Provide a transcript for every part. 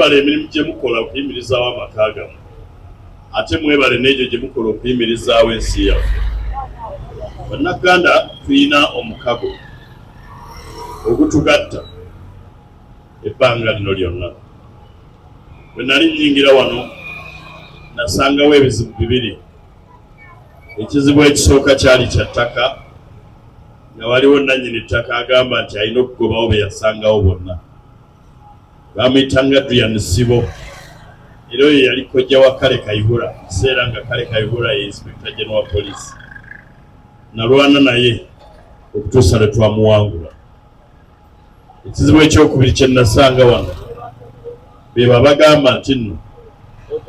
Mwebale emirimu gye mukola okuyimirizaawo amaka gamu ate mwebale n'egyo gye mukola okuyimirizaawo ensi yaffe. Bannaganda tulina omukago ogutugatta ebbanga lino lyonna. Bwe nali nnyingira wano nasangawo ebizibu bibiri. Ekizibu ekisooka kyali kya ttaka nga waliwo nnannyini ttaka agamba nti alina okugobawo bye yasangawo bonna. bamuyitanga Adrian Sibo era oyo yali kojja wa Kale Kayihura kiseera nga Kale Kayihura ye inspector general wa police nalwana naye okutuusa lwe twamuwangula ekizibu ekyokubiri kye nasanga wano be babagamba nti nno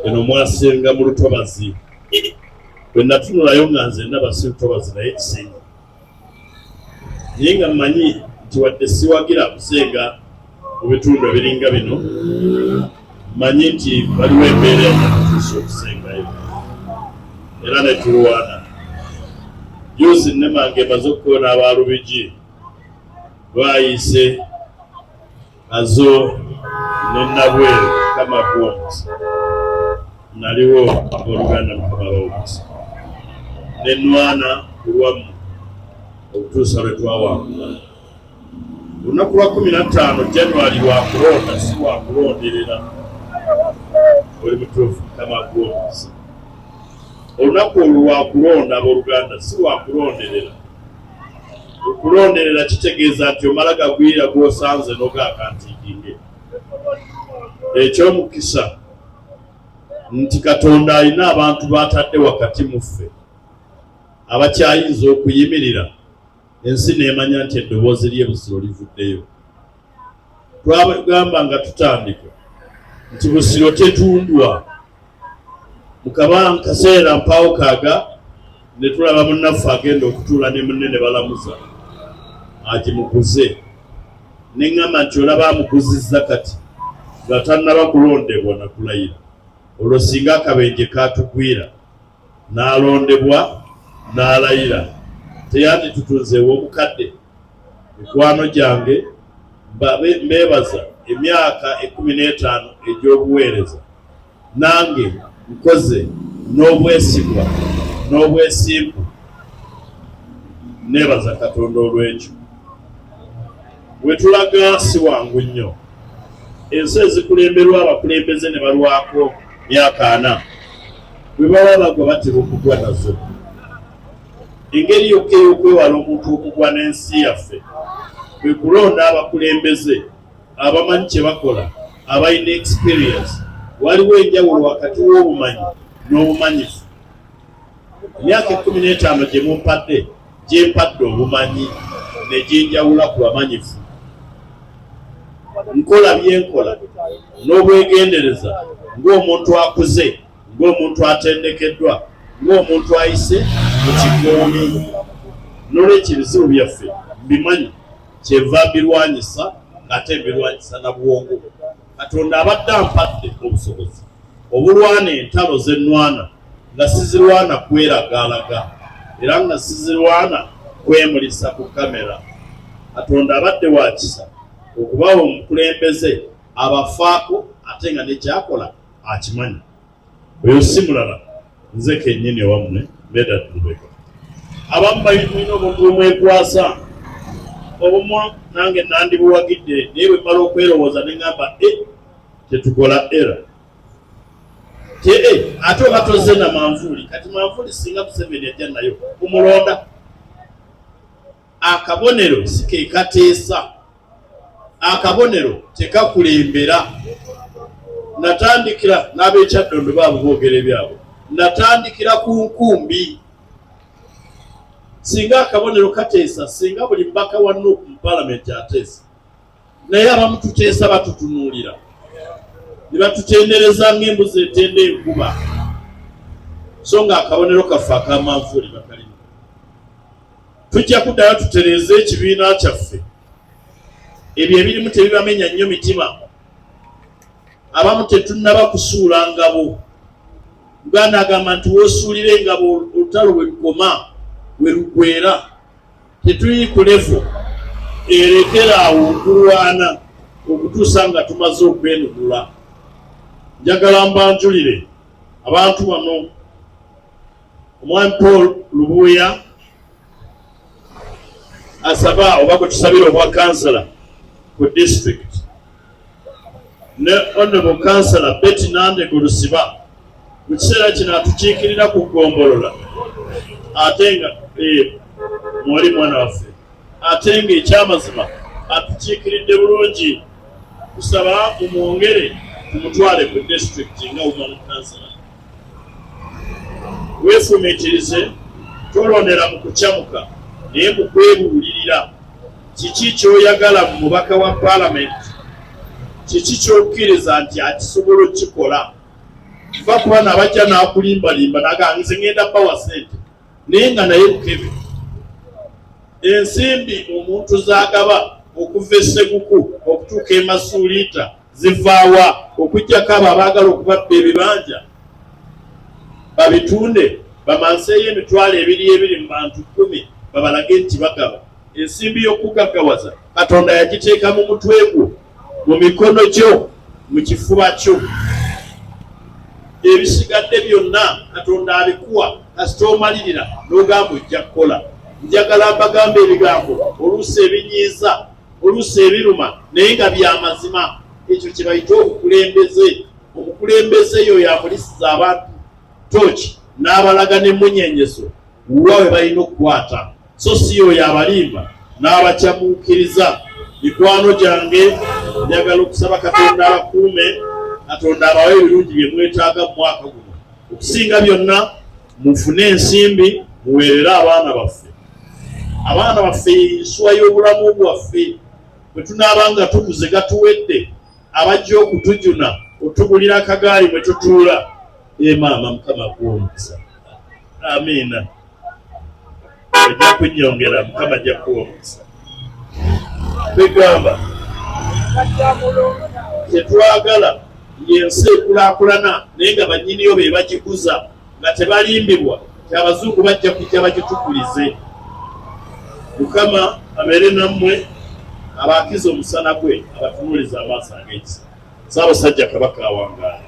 eno mwasenga mu lutobazi bwe natunulayo nga nze ndaba si lutobazi naye kisinga naye nga mmanyi nti wadde siwagira kusenga mu bitundu ebiringa bino mmanyi nti waliwo embeera enakutuusa okusengayo era netulwana juusi nemange emaze okukoona abalubigi lwayise nazo ne nabweru kama kuwomesa naliwo oluganda mukama bawomesa ne nwana kulwamu okutuusa lwe twawangula olunaku lwa kumi na ttaano januari wakulonda si wakulonderera oli mutuufu mukama kuwomesa olunaku olwo wakulonda aboluganda si wakulonderera Okulonderera kitegeeza nti omala gagwira gw'osanze n'ogaakantiikinge. Eky'omukisa nti Katonda alina abantu b'atadde wakati mu ffe abakyayinza okuyimirira ensi n'emanya nti eddoboozi ly'e Busiro livuddeyo. twagamba nga tutandika nti busiro tetundwa mukaba kaseera mpaawo kaaga ne tulaba munnaffe agenda okutuula ne munne ne balamuza agimuguze ne ŋŋamba nti olaba amuguzizza kati nga tannaba kulondebwa na kulayira olwo singa akabenje kaatugwira n'alondebwa n'alayira teyanditutunzeewo omukadde Mikwano gyange, mbeebaza emyaka ekkumi n'etaano egy'obuweereza. Nange nkoze n'obwesigwa n'obwesimbu. Nneebaza Katonda olw'ekyo. We tulaga si wangu nnyo. Ensi ezikulemberwa abakulembeze ne balwako myaka ana, bwe baba bagwa batera okugwa nazo. Engeri yokka ey'okwewala omuntu okugwa n'ensi yaffe kwe kulonda abakulembeze abamanyi kye bakola, abalina experience. Waliwo enjawulo wakati w'obumanyi n'obumanyifu. Emyaka ekkumi n'etaano gye mumpadde gyempadde obumanyi ne ginjawula ku bamanyifu. Nkola bye nkola n'obwegendereza ng'omuntu akuze. ng'omuntu atendekeddwa ng'omuntu ayise mu kigoomi nolwekyo ebizibu byaffe mbimanyi kyenva mbirwanyisa ng'ate mbirwanyisa na bwongo katonda abadde ampadde obusobozi obulwana entalo z'ennwana nga sizirwana kweragaalaga era nga sizirwana kwemulisa ku kamera katonda abadde wakisa okubawa omukulembeze abafaako ate nga nekyakola akimanyi oyo si mulala nze kenyini owammwe beda tulubeka abamu bayimulina obuntu bwemwekwasa obumu nange nandibuwagidde naye bwemala okwerowooza neŋamba e eh, tetukola era tee eh, ate oba tozze na manvuuli kati manvuuli singa museveni ajja nayo kumulonda akabonero sikekateesa akabonero tekakulembera natandikira n'abekyaddondo baabo boogera ebyabwe natandikira ku nkumbi singa akabonero kateesa singa buli mubaka wa nup mu palamenti ateesa naye abamu tuteesa batutunuulira ne batutendereza ng'embuzi etenda enkuba so nga akabonero kaffe akamanvuuli bakalimu tujja kuddayo tutereeze ekibiina kyaffe ebyo ebirimu tebibamenya nnyo mitima abamu tetunnaba kusuula ngabo uganda agamba nti wosuulira engabo olutalo bwe lukoma bwe lugwera tetuli ku levo erekera awo okulwana okutuusa nga tumaze okwenunula njagala mbanjulire abantu bano Omwami Paul Lubuuya asaba oba gwe tusabira obwa kansala ku district ne honorable kansala Betty Nandego Lusiba mu kiseera kino atukiikirira ku ggombolola ate nga eh, mwali mwana waffe ate nga ekyamazima atukiikiridde bulungi kusaba mumwongere kumutwale ku district nga woman kansala weefumiitirize tolondera mu kukyamuka naye mu kwebuulirira kiki kyoyagala mu mubaka wa paalamenti kiki kyokkiriza nti akisobola okukikola va ku bana abajja n'akulimbalimba naganze ngenda bawa sente naye nga naye bukebe ensimbi omuntu zagaba okuva esseguku okutuuka emasuuliita zivaawa okujjako abo abaagala okubabba ebibanja babitunde bamanseeyo emitwalo ebiri ebiri mu bantu kkumi babalage nti bagaba ensimbi y'okugaggawaza katonda yagiteeka mu mutwe gwo mu mikono gyo mu kifuba kyo ebisigadde byonna katonda abikuwa kasita omalirira n'ogamba ojja kukola njagala mbagambo ebigambo oluusi ebinyiiza oluusi ebiruma naye nga bya mazima ekyo kye bayita obukulembeze omukulembeze eyo yamulisiza abantu toki n'abalaga n'emmunyenyeso wa we balina okukwata so si yoyo abalimba n'abakyamuukiriza mikwano gyange njagala okusaba katonda abakuume katonda abawe ebirungi bye mwetaaga mu mwaka guno okusinga byonna mufune ensimbi muweerere abaana baffe abaana baffe ensuwa y'obulamu bwaffe bwe tunaaba nga tukuze gatuwedde abajja okutujuna otugulira akagaali mwe tutuula emaama eh, mukama akuwomukisa amiina ojja kunyongera mukama ajja kuwa omukisa begamba tetwagala yensi ekulakulana naye nga banyiniyo be bagikuza nga tebalimbibwa kyabazungu bajja kujja bagitukulize mukama abeere nammwe abaakiza omusana gwe abatunuuliza amaaso ag'ekisa saabasajja kabaka awangaala